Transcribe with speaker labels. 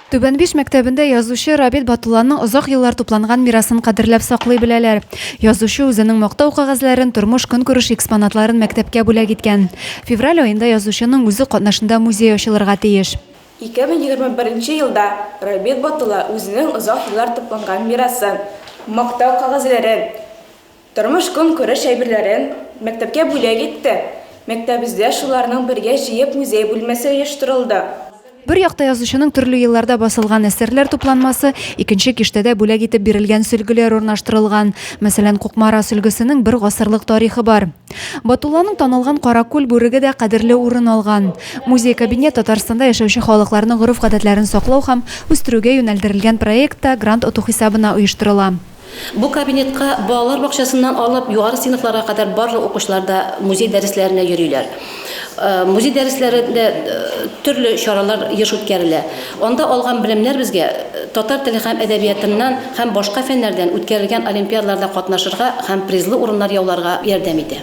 Speaker 1: Түбәнбиш мәктәбендә язучы Рабит Батулланың озак еллар тупланган мирасын кадерләп саклый беләләр. Язучы үзенең мактау кәгазьләрен, тормыш-көнкүреш экспонатларын мәктәпкә бүләк иткән. Февраль аенда язучының үзе катнашында музей ачылырга тиеш. 2021 нче
Speaker 2: елда Рабит Батулла үзенең озак еллар тупланган мирасын, мактау кәгазьләрен, Тормыш-көнкүреш әйберләрен мәктәпкә бүләк итте. Мәктәбездә шуларның бергә җыеп музей бүлмәсе оештырылды. Бер якта
Speaker 1: язучының төрле елларда басылган әсәрләр тупланмасы, икенче киштәдә бүләк итеп бирелгән сөлгеләр урнаштырылган. Мәсәлән, Кукмара сөлгесенең бер гасырлык тарихы бар. Батулланың танылган Каракүл бүреге дә кадерле урын алган. Музей-кабинет Татарстанда яшәүче халыкларның гореф-гадәтләрен саклау һәм үстерүгә юнәлдерелгән проектта грант оту хисабына оештырыла. Бу кабинетка
Speaker 3: балалар бакчасыннан алып югары сыйныфларга кадәр барлык укучылар да музей дәресләренә йөриләр. Музей дәресләрендә төрле чаралар еш үткәрелә. Анда алган белемнәр безгә татар теле һәм әдәбиятыннан һәм башка фәннәрдән үткәрелгән олимпиадаларда катнашырга һәм призлы урыннар яуларга ярдәм итә.